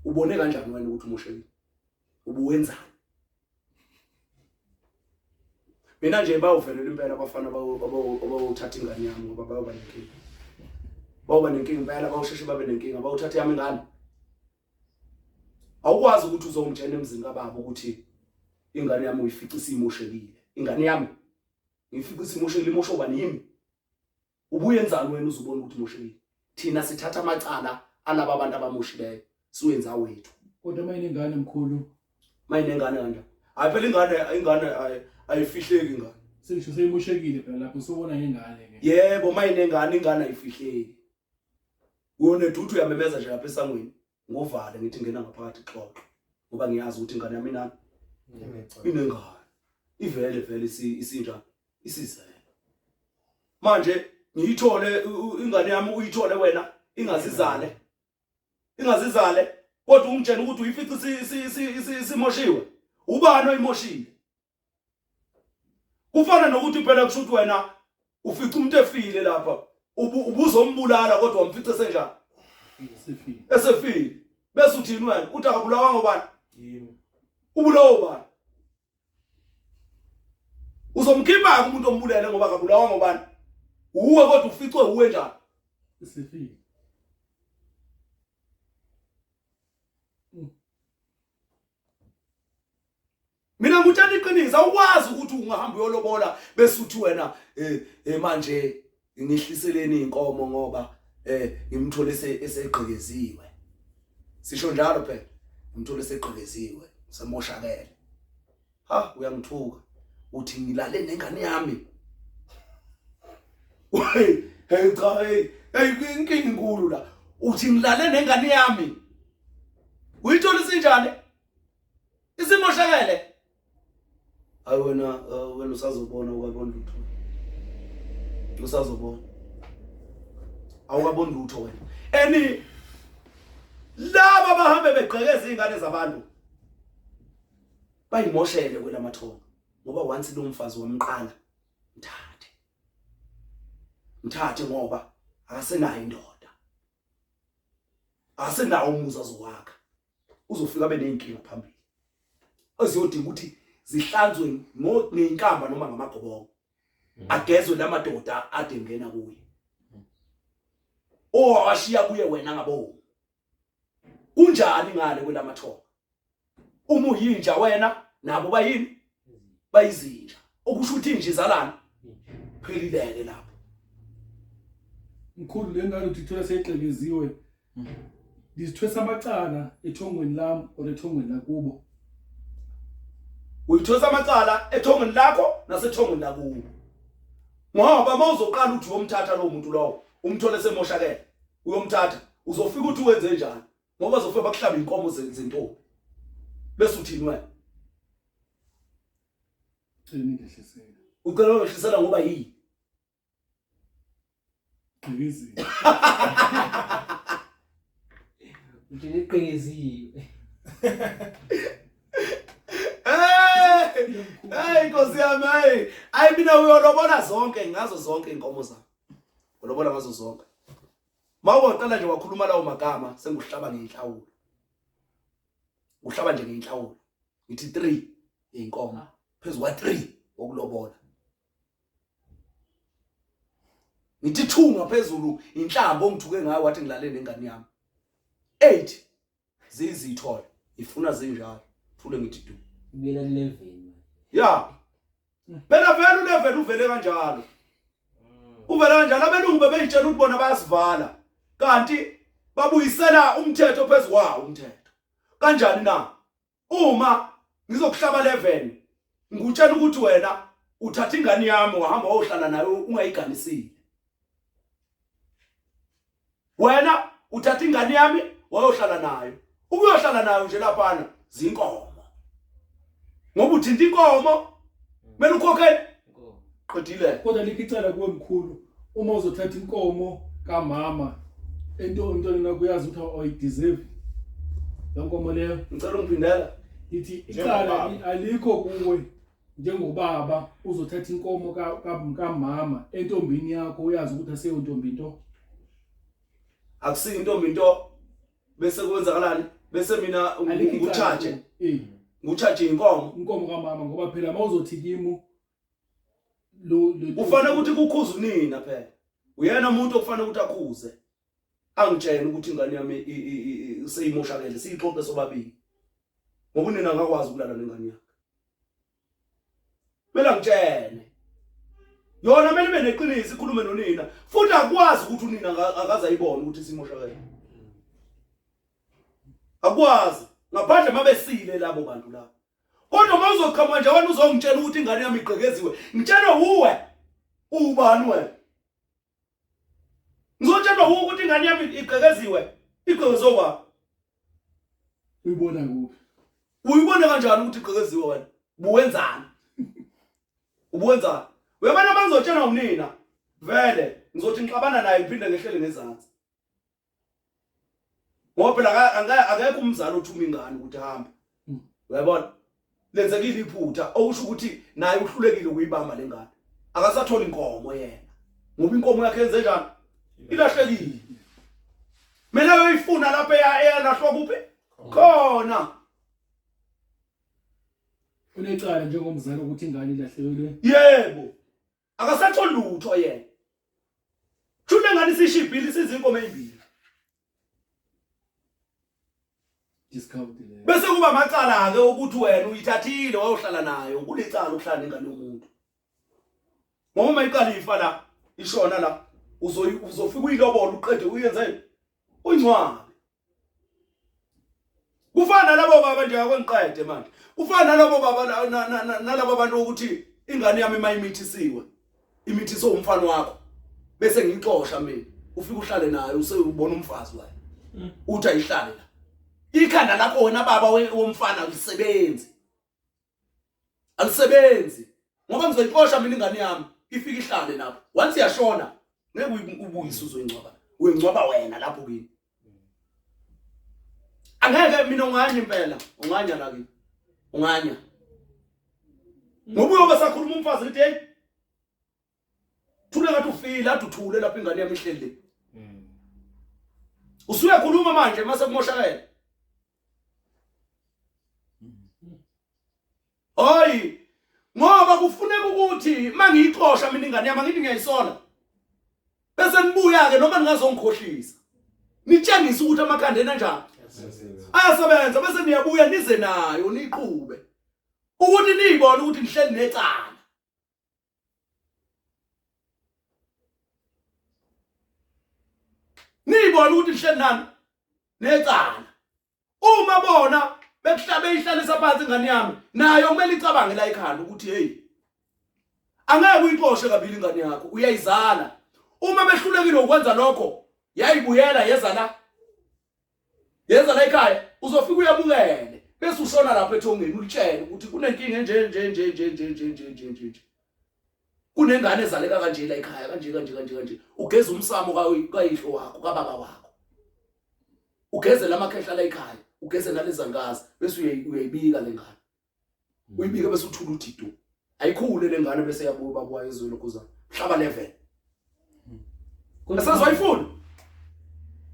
ubone kanjani wena ukuthi umoshelile ubuwenzani mina nje bawuvelela impela abafana abawuthatha ingane yami ngoba bayoba nenkinga bayoba nenkinga impela bawusheshe babe nenkinga bawuthatha yami ingane awukwazi ukuthi uzomtshela emzini kababa ukuthi ingane yami uyifica isimoshelile ingane yami ngifike ukuthi imoshekile imosho bani yimi ubuyenzani wena uzubona ukuthi imoshekile thina sithatha amacala alaba abantu abamoshileyo siwenza wethu kodwa uma inengane mkhulu uma inengane kanje hayi phela ingane ingane ayifihleki ingane sengisho seyimoshekile phela lapho sobona ngengane ke yebo uma inengane ingane ayifihleki uyoneduthu uyamemeza nje lapha esangweni ngovale ngithi ngena ngaphakathi xoxo ngoba ngiyazi ukuthi ingane yami nani inengane ivele vele isinja isizele manje ngiyithole ingane yami uyithole wena ingazizale ingazizale kodwa ungitshela ukuthi uyifica isimoshiwe ubani oyimoshile kufana nokuthi phela kusho ukuthi wena ufica umuntu efile lapha ubuzombulala kodwa wamfica senjani esefile esefile bese uthini wena uthi akabulawa ngobani yimi ubulawa ubani uzomkhipha umuntu ombulele ngoba akabulawa ngobani uwe kodwa uficwe uwe njani esefile mina ngutshela iqiniso awukwazi ukuthi ungahamba uyolobola bese uthi wena eh, eh manje ngihliseleni inkomo ngoba eh ngimthole esegqekeziwe sisho njalo phela ngimthole esegqekeziwe semoshakele ha uyangithuka uthi ngilale nengane yami hey hey cha hey hey inkinga inkulu la uthi ngilale nengane yami uyithola isinjani isimoshakele hayi wena uh, wena usazobona ukabona lutho usazobona awukaboni lutho wena eni laba bahambe begqekeza izingane zabantu bayimoshele kwela mathonga ngoba once lo mfazi wamqala mthathe mthathe ngoba akasenayo indoda asenawo umuzi azowakha uzofika abe nezinkinga phambili eziyodinga ukuthi zihlanzwe ngenkamba noma ngamagobongo mm. agezwe lamadoda ade ngena kuye owashiya kuye wena ngabo kunjani ngale kwelamathonga uma uyinja wena nabo bayini bayizinja okusho ukuthi nje izalana phelileke lapho mkhulu le ngane uthithola seyixekeziwe ngizithwesa amacala ethongweni lami or ethongweni lakubo uyithosa amacala ethongweni lakho nasethongweni lakubo ngoba uma uzoqala ukuthi uyomthatha lowo muntu lowo umthole semoshakele uyomthatha uzofika ukuthi wenze njani ngoba uzofika bakuhlaba inkomo zentombi bese uthini wena cela ngehlisela ucela ngehlisela ngoba yini qhikiziwe nje iqhikiziwe Hey inkosi yami hey ayi mina uyolobona zonke ngazo zonke inkomo zami. Ulobola ngazo zonke. mawungaqala nje wakhuluma lawo magama senguhlaba ngenhlawulo uhlaba nje ngenhlawulo ngithi 3 inkomo ah. phezulu kwa 3 okulobola ngithi 2 ngaphezulu inhlamba ongithuke ngayo wathi ngilale nengane yami 8 zizithola ifuna zinjalo thule ngithi du mina leveni ya phela vele uleveni uvele kanjalo uvele kanjalo abelungu bebeyitshela ukuthi bona bayasivala kanti babuyisela umthetho phezukwawo umthetho kanjani na uma ngizokuhlaba leven ngikutshela ukuthi wena uthatha ingane yami wahamba wayohlala nayo ungayiganisile wena uthatha ingane yami wayohlala nayo ukuyohlala nayo nje laphana zinkomo ngoba uthinta inkomo kumele ukhokhe qedile kodwa likho icala kuwe mkhulu uma uzothatha inkomo kamama ento umntwana nakho uyazi ukuthi awayideserve loo nkomo leyo ngicela ungiphindela ithi icala alikho kuwe njengobaba uzothatha inkomo kamama entombini yakho uyazi ukuthi aseyontombi into akusiyo intombi into bese kwenzakalani bese mina ngitshaje ngitshaje inkomo inkomo kamama ngoba phela mawuzothi kimu ufanele ukuthi kukhuza unina phela uyena umuntu okufanele ukuthi akhuze angitshela ukuthi ingane yami seyimoshakele siyixoxe sobabili ngoba unina akakwazi ukulala nengane yakhe Mela ngitshene. Yona mele ibe neqiniso ikhulume nonina futhi akwazi ukuthi unina akaza ayibone ukuthi simoshakele. Akwazi ngaphandle mabesile labo bantu labo. Kodwa mawuzoqhamuka nje wena uzongitshela ukuthi ingane yami igqekeziwe. Ngitshela uwe ubani wena? ngizotshelwa wuwo ukuthi ingane yami igqekeziwe igqekezwe ubaba uyibona kuphi uyibona kanjani ukuthi igqekeziwe wena buwenzani ubuwenzani wemane uma ngizotshelwa unina vele ngizothi ngixabana naye ngiphinde ngehlele ngezansi ngoba phela akekho umzali othuma ingane ukuthi hambe hmm. uyabona lenzekile iphutha okusho ukuthi naye uhlulekile ukuyibamba le ngane akasatholi inkomo yena ngoba inkomo yakhe yenze njani ilahlekile mina yoyifuna lapha eyalahlwa kuphi khona unecala njengomzali ukuthi ingane ilahlekelwe yebo akasatholi lutho yena shule ngani sishibhile sizinkomo ezimbili discount le bese kuba amacala ke ukuthi wena uyithathile wayohlala nayo kulicala ukuhlala nengane yomuntu ngoba uma iqala ifa la ishona la uzoyi uzofika uyilobola uqede uyenzeni uyincwabe kufana nalabo baba nje akwengiqede manje kufana nalabo baba nalabo bantu ukuthi ingane yami mayimithisiwe imithise umfana wakho bese ngixosha mina ufike uhlale naye usebona umfazi wayo uthi ayihlale la ikhanda lakho wena baba womfana usebenzi alisebenzi ngoba ngizoyixosha mina ingane yami ifike ihlale lapho once yashona ngeke ubuyise uzoyingcwaba uyingcwaba wena lapho kini angeke mina unganye impela unganya la kini unganya ngoba uyobe sakhuluma umfazi ukuthi hey thula ngathi ufile ade uthule lapho ingane yami ihleli le hmm. usuyakhuluma manje mase kumoshakela hayi hmm. ngoba kufuneka ukuthi mangiyixosha mina ingane yami ngithi ngiyayisola bese nibuya ke noma ningazongikhohlisa nitshengisa ukuthi amakhanda enanjani ayasebenza bese niyabuya nize nayo niqhube ukuthi niyibone ukuthi nihleli necala niyibona ukuthi lihleli nani necala uma bona bekuhlabe ihlalisa phansi ingane yami nayo kumele icabange la ikhanda ukuthi hey angeke uyixoshe kabili ingane yakho uyayizala uma behlulekile ukwenza lokho yayibuyela yeza la yenza la ekhaya uzofika uyabukele bese ushona lapho ethongeni ulitshele ukuthi kunenkinga nje nje nje nje nje nje nje nje nje nje kunengane ezaleka kanje la ekhaya kanje kanje kanje kanje ugeza umsamo kayihlo wakho kababa wakho ugezela amakhehla la ekhaya ugezela lezangazi bese uyayibika lengane uyibike bese uthula uthi tu ayikhule lengane bese yakubo baba wayo ezweni kuza mhlaba level Asazwayifuni.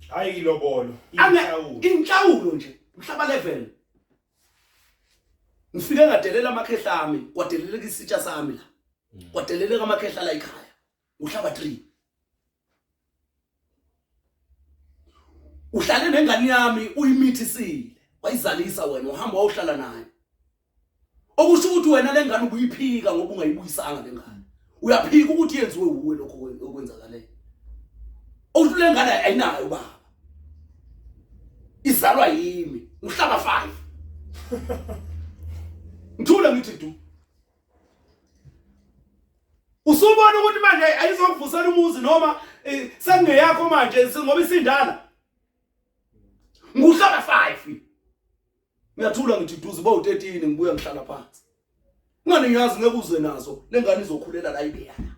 Hayi ilobolo, inhlawulo. Inhlawulo nje, mhlaba level. Ngifike ngadelela amakhehla ami, kwadeleleka isitsha sami la. Mm. Kwadeleleka amakhehla la ekhaya. uhlaba 3 uhlale nengane yami uyimithisile wayizalisa wena uhamba wawuhlala naye okusho ukuthi wena lengane ubuyiphika ngoba ungayibuyisanga lengane uyaphika ukuthi yenziwe uwe lokho okwenzakaleyo okusho lengane ayinayo baba izalwa yimi uhlaba 5 ngithule ngithi du Usubona ukuthi manje ayizokuvusela umuzi noma eh, sekungeyakho manje ngoba isindala. Nguhlala 5. Ngiyathula ngithi duze bo 13 ngibuya ngihlala phansi. Ngani ngiyazi ngeke uze nazo lengane izokhulela la ibeyana.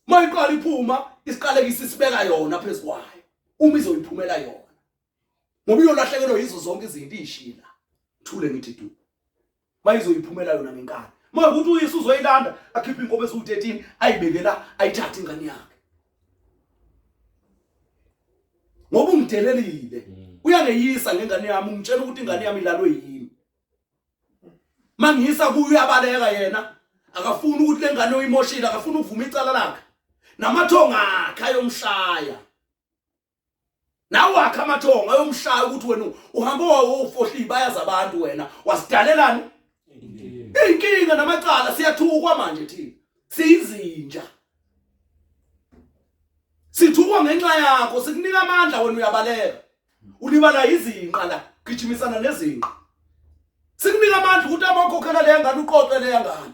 Mayiqala iphuma isiqalekisa isibeka yona phezukwayo uma izoyiphumela yona. ngoba uyolahlekelwa yizo zonke izinto ishila thule ngithi du mayizoyiphumela yona ngenkani uma ukuthi uyise uzoyilanda akhiphe inkomo esu-13 ayibekela ayithathe ingane yakhe ngoba ungidelelile mm. uyangeyisa ngengane yami ungitshela ukuthi ingane yami ilalwe yini mangiyisa kuyo uyabaleka yena akafuni ukuthi le ngane uyimoshile akafuni ukuvuma icala lakhe namathonga akhe ayomshaya nawe wakhe amathongo ayomshaya ukuthi wena uhambe wawofohliyi bayazi abantu wena wasidalelani inkinga namacala siyathukwa manje thina siyizinja sithukwa ngenxa yakho sikunika amandla wena uyabaleka ulibala izinqa la gijimisana nezinqa sikunika amandla ukuthi abakhokhela leya ngane uqoqe leya ngane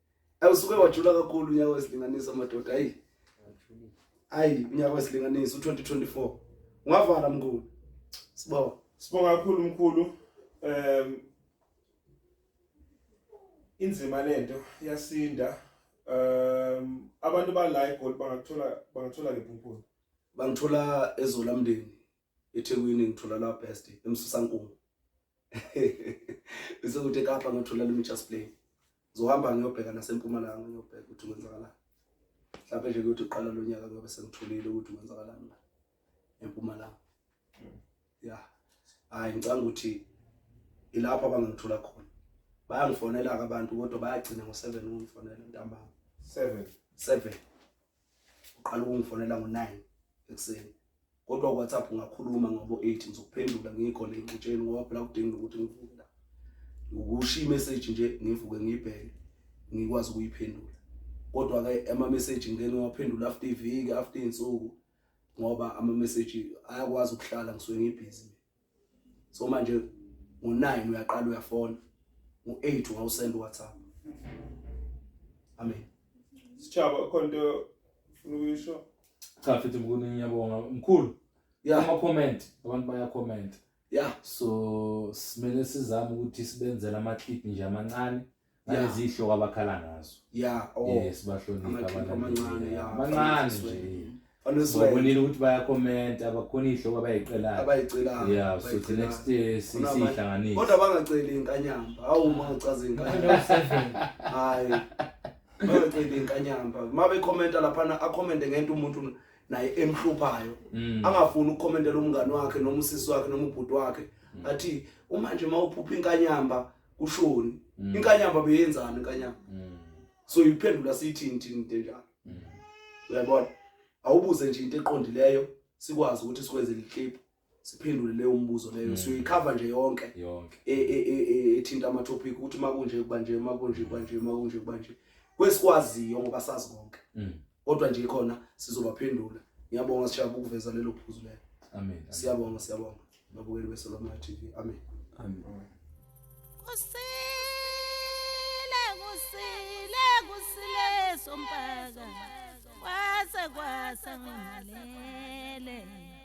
Awusuke wajula kakhulu unyaka wesilinganiso madoda ayi. Ayi unyaka wesilinganiso u2024. Ungavala mkhulu. Sibonga. Sibonga kakhulu mkhulu. Um inzima lento yasinda. Um abantu bala eGoli bangathola bangathola ngephuphuzo. Bangithola ezolamndeni. eThekwini ngithola la best emsusankungu bese kuthi eKapa ngithola le Mitchell's Play ngizohamba ngiyobheka nasempumalanga ngiyobheka ukuthi kwenzakalani mhlawumbe nje kuyothi uqala lo nyaka kuyobe sengitholile ukuthi kwenzakalani la empumalanga ya hayi ngicanga ukuthi ilapho abangangithola khona bayangifonela-ke abantu kodwa bayagcina ngo-seven ukungifonela ntambama seven seven uqala ukungifonela ngo-9 ekuseni kodwa uwhatsapp ungakhuluma ngobo-8 ngizokuphendula ngiyikhona engixutsheni ngoba phela kudinga ukuthi ngivuke la ngokushiya imeseji nje ngivuke ngiyibheke ngikwazi ukuyiphendula kodwa-ke amameseji ngike ngiwaphendula after iviki after iy'nsuku ngoba amameseji ayakwazi ukuhlala ngisuke ngibhizi so manje ngo-9 uyaqala uyafona ngo-8 ungawusenda uwhatsapp amen sitshaba khona into funa ukuyisho cha futhi mkhulu ngiyabonga mkhulu yeah. ama-comment abantu bayacomment yeah so simele sizame ukuthi sibenzele ama-clip nje amancane nalezihloka abakhala ngazo yeah oh yes bahlonipha abantu abancane yeah abancane nje Bonile ukuthi bayakhomenta bakhona ihloko abayiqelayo. Abayiqelayo. Yeah, so the next day sisihlanganise. Kodwa bangaceli inkanyamba. Hawu uma ucaza inkanyamba. Hayi. Bangaceli inkanyamba. Uma bekhomenta laphana akhomente ngento umuntu naye emhluphayo. Mm. Angafuni ukukhomentela umngani wakhe noma usisi wakhe noma ubhuti wakhe. Mm. Athi uma nje mawuphupha inkanyamba kushoni mm. inkanyamba beyenzani inkanyamba mm. so uyiphendula siyithini thini into enjalo mm. uyabona awubuze nje into eqondileyo sikwazi ukuthi sikwenze liclip siphendule leyo mbuzo leyo mm. siyoyikhava nje yonke yonke e, e, e, ethinta ama topic ukuthi makunje kuba nje makunje kuba nje makunje kuba nje kwesikwaziyo ngoba sazi konke mm. kodwa nje khona sizobaphendula ngiyabonga sishaya ukuveza lelo phuzu lelo amen siyabonga siyabonga babukeli besoloma TV amen amen kusile kusile kusile sompaka kwase kwase ngimalele